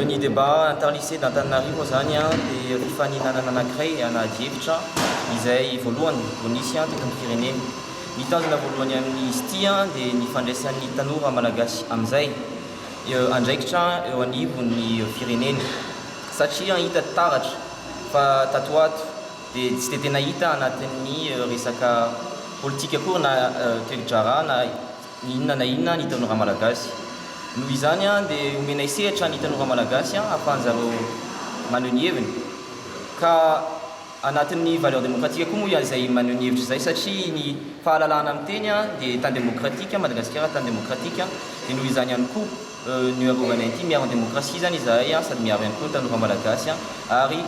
Ny débat inter-lycée d'Antananarivo moa zany dia fifaninanana anankiray na adihevitra izay voalohany vao nisy teto am-pirenena. Ny tanjona voalohany amin'izy ity dia ny fandraisan'ny tanora malagasy amin'izay andraikitra eo anivon'ny firenena satria hita taratra fa tato ho ato Dia tsy dia tena hita anatin'ny resaka politika akory na toe-draharaha na inona na inona ny tanora malagasy. Noho izany dia omenay sehatra ny tanora malagasy ahafahan'zareo maneho ny heviny. Ka anatin'ny valeur démocratique koa moa izay maneho ny hevitra izay satria ny fahalalahana miteny dia tany démocratique, Madagasikara tany démocratique dia noho izany ihany koa. Ny Arovana ity, miaro ny demokrasia izany izahay sady miaro ihany koa ny tanora malagasy ary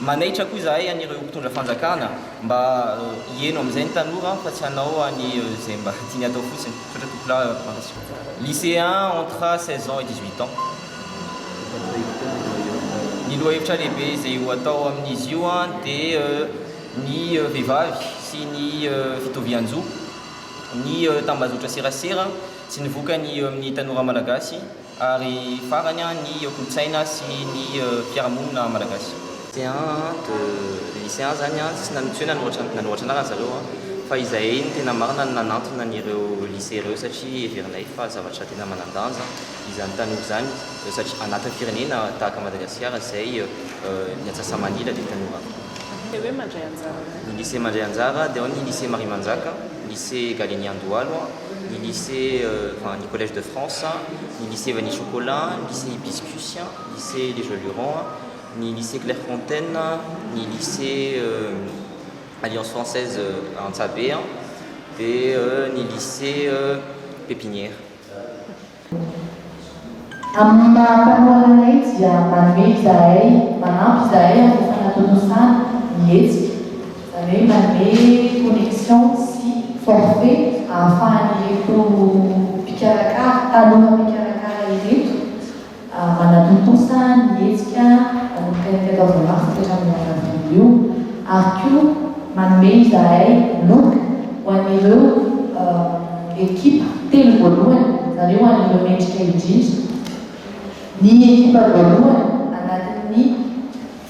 manaitra koa izahay an'ireo mpitondra fanjakana mba hiheno amin'izay ny tanora fa tsy hanao an'izay mba tiany hatao fotsiny. Misaotra Tompolahy Radovan-dRasoa. Lycéen entre seize ans et dix huit ans. Ny lohahevitra lehibe izay ho atao amin'izy io dia ny vehivavy sy ny fitovian-jo, ny tambazotra serasera, Tsy ny vokany eo amin'ny tanora malagasy ary farany ny eo kolontsaina sy ny fiarahamonina malagasy. Lycéens de lycéens zany tsy nanontsoina loatra ny nanoratra anarana zareo fa izay no tena marina no nanantona an'ireo lycée ireo satria heverinay fa zavatra tena manan-danja izany tanora izany satria anatin'ny firenena tahaka Madagasikara izay ny atsasa-manila dia tanora. Ny lycée mandray anjara dia ao ny lycée Mariamanjaka, lycée Galenian Dohalo, ny lycée enfin ny collège de France, ny lycée vanille chocolat, ny lycée hibiscus, ny lycée les jolurons, ny lycée Clairefontaine, ny lycée alliance française Antsahabe dia ny lycée pépinière. Amin'ny maha mpanohana anay dia manome izahay, manampy izahay amin'ny fanatontosana ny hetsika, izany hoe manome connexion sy forfait ahafahan'ireto mpikarakara, taloha mpikarakara ireto, manatontosa ny hetsika manomboka ny telo ora maty ka hatramin'ny iray avrily io ary koa manome izahay loka ho an'ireo ekipa telo voalohany izany hoe ho an'ireo mendrika indrindra ny ekipa voalohany anatin'ny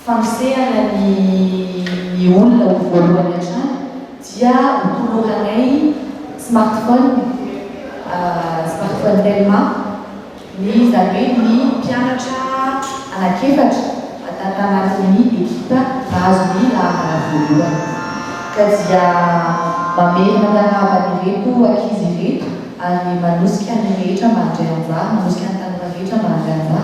fampisehana ny ny olona ho voalohany hatrany dia ho toloranay smartphone smartphone telma ny izany hoe ny mpianatra anak'efatra ata tanatin'ny ekipa mpahazo ny laharan voalohany ka dia mamelona anarava an'ireto ankizy ireto ary manosika ny rehetra mandray anjara manosika ny tanora rehetra mandray anjara